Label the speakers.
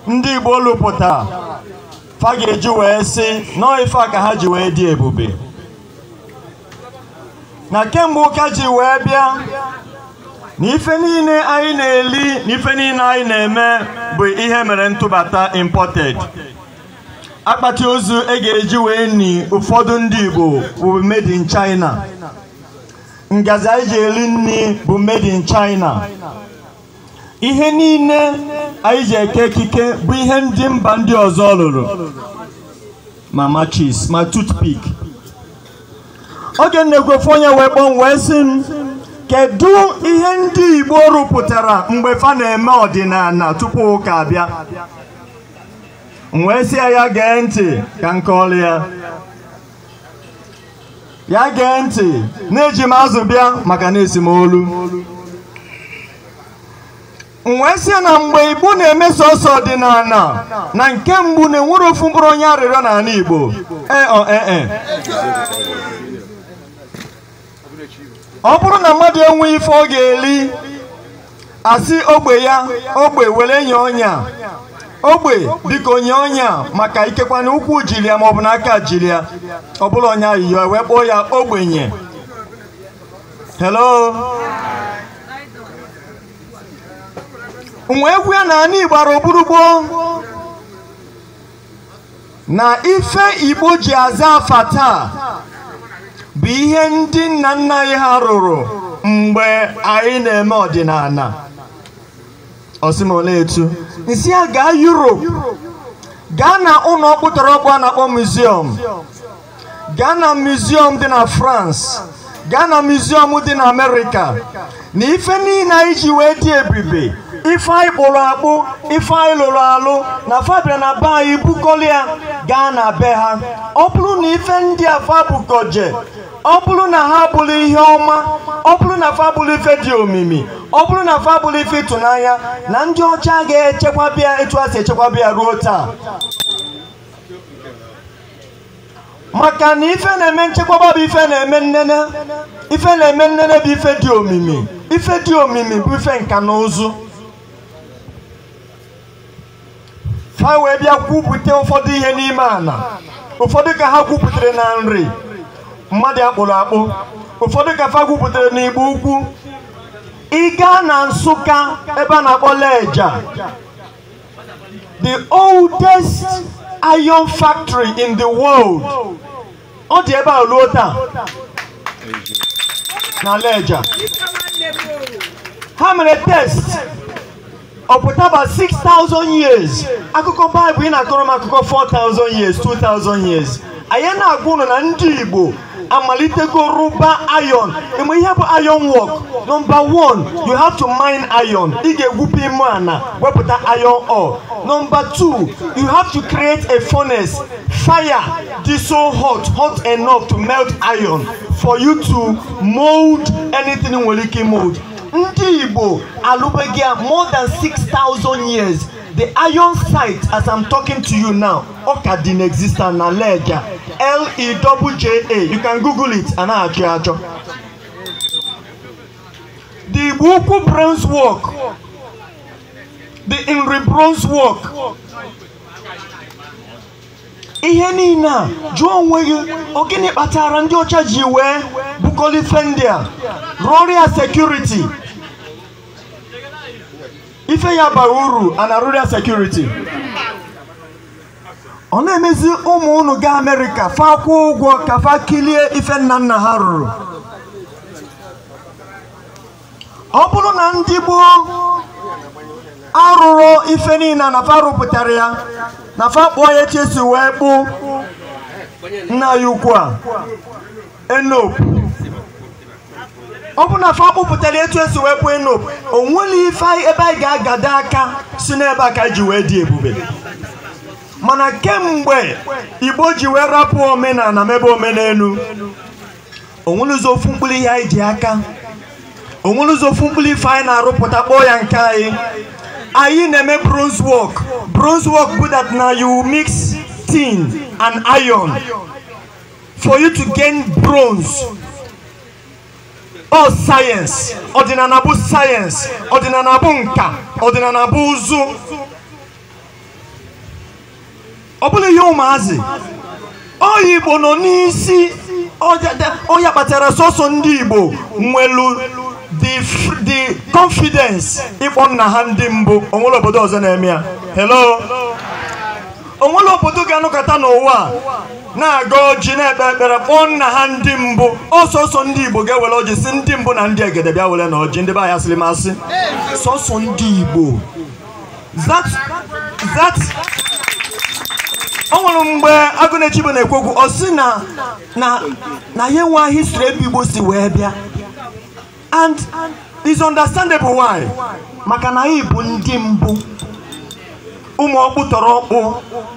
Speaker 1: ndị Igbo lụpụtara fa ga-eji wee sị na ọ ife a ka ha ji wee dị ebube na kemgbe ụka ji wee bịa na ife niile anyị na-eli na ife niile anyị na-eme bụ ihe mere ntụbata imported akpati ozu e ga-eji wee ni ụfọdụ ndị Igbo bụ made in China ngazi anyị ji eli nni bụ made in China ihe niile anyị ji eke ekike bụ ihe ndị mba ndị ọzọ lụrụ ma matches ma toothpick oge m na-ekwu ofu onye wee kpọọ m wee sị m kedu ihe ndị Igbo rụpụtara mgbe fa na-eme ọdịnana tupu ụka abịa m wee sị ya ya gee ntị ka m kọọlụ ya ya gee ntị na eji m azụ bịa maka na esi m olu m wee sị na mgbe Igbo na-eme sọsọ ọdịnana na nke mbụ na enwerọ ofu mkpụrụ onye arịrịọ n'anị Igbo ee ọ ee e ọ bụrụ na mmadụ enweghị ife ọ ga-eli a sị ogbe ya ogbe were nye onye a ogbe biko nye onye a maka ikekwa na ụkwụ jili ya maọbụ na aka jili ya ọ bụrọ onye ayịyọ e wee kpọọ ya ogbenye hello m wee gwa ya na anị gbara oburugbo na ife Igbo ji aza afa taa bụ ihe ndị nna nna anyị ha rụrụ mgbe anyị na-eme ọdịnana ọ sị m olee etu m sị ya gaa Europe gaa na ụnọ ọkpụtọrọkpụ a na-akpọ museum gaa na museum dị na France gaa na museum dị na Amerịka na ife niile anyị ji wee dị ebube ife anyị kpụrụ akpụ ife anyị lụrụ alụ na fa bịara na be anyị bukọlịa gaa na be ha ọ bụrụ na ife ndị a fa bukọje ọ bụrụ na ha abụrọ ihe ọma ọ bụrụ na fa abụrọ ife dị omimi ọ bụrụ na fa abụrọ ife ịtụnanya na ndị ọcha ga-echekwaba ya etu ha si echekwaba ya ruo taa maka na ife na-eme nchekwaba bụ ife na-eme nnene ife na-eme nnene bụ ife dị omimi ife dị omimi bụ ife nka na ụzụ ha wee bịa gwupụta ụfọdụ ihe n'ime ana ụfọdụ ka ha gwupụtara na Nri mmadụ akpụrụ akpụ ụfọdụ ka fa gwupụtara n'Igbo Ukwu ị gaa na Nsụka ebe a na-akpọ Leja the oldest iron factory in the world ọ dị ebe a ruo taa na lejja ha mere test ọ pụtaba 6000 years akụkọ baịbụl ị na-akọrọ m akụkọ 4000 years 2000 years anyị na-agwa ụnụ na ndị igbo amalitego rụba iron ị ma ihe bụ iron work number one you have to mine iron ị ga-egwupe ime ana wepụta iron ore number two you have to create a furnace fire dị so hot hot enough to melt iron for you to mold anything i nwere ike mold ndị igbo alụbago ya more than 6000 years the iron site as i'm talking to you now ọ ka dị na-exist na lejja l-e-double-j-a you can google it a na-achọ ya achọ the igbo ukwu bronze work the nri bronze work ihe niile a jụọ onwe gị ọ gịnị kpatara ndị ọcha ji wee bukọlụ ife ndị a rụọrọ ya security ife ya bara uru a na-arụrụ ya security ọ na-emezi ụmụ unu gaa amerịka fa akwụọ ụgwọ ka fa kilie ife nna nna ha rụrụ ọ bụrụ na ndị gboo arụrụ ife niile na fa rụpụtara ya na fa kpụọ ya etu e si wee kpụ nna anyị ukwu a enopu ọ bụ na fa kpụpụtara etu e si wee kpụ enopu o nwere ife anyị- ebe anyị ga-agado aka sị na ebe a ka anyị ji wee dị ebube mana kemgbe igbo ji wee rapụ omenana mebe omenenu o nwerezị ofu mkpụrụ ihe anyị ji aka o nwerezị ofu mkpụrụ ife anyị na-arụpụta kpọọ ya nke anyị anyị na-eme bronze work bronze work bụ that na you mix tin and iron for you to gain bronze ọ science ọdịnana bụ science ọdịnana bụ nka ọdịnana bụ ụzụ ọ bụrọ ihe ụmụazị onye igbo nọ n'isi ọ ya kpatara sọsọ ndị igbo nwelu the confidence ịkpọ nna ha ndị mbụ o nwere obodo ọzọ na-eme ya hello o nwere obodo ga-anọkata n'ụwa a na-agọ ọjị na-ekpe ekpere kpọọ nna ha ndị mbụ ọ sọsọ ndị igbo ga-ewere ọjị sị ndị mbụ na ndị egede bịa werenụ ọjị ndị be anyị asịrị m asị sọsọ ndị igbo that that o nwere mgbe agụnechibo na-ekwu okwu ọ sị na na na ya enwe history ebe igbo si wee bịa and it's understandable why maka na anyị bụ ndị mbụ ụmụ ọkpụ tọrọ ọkpụ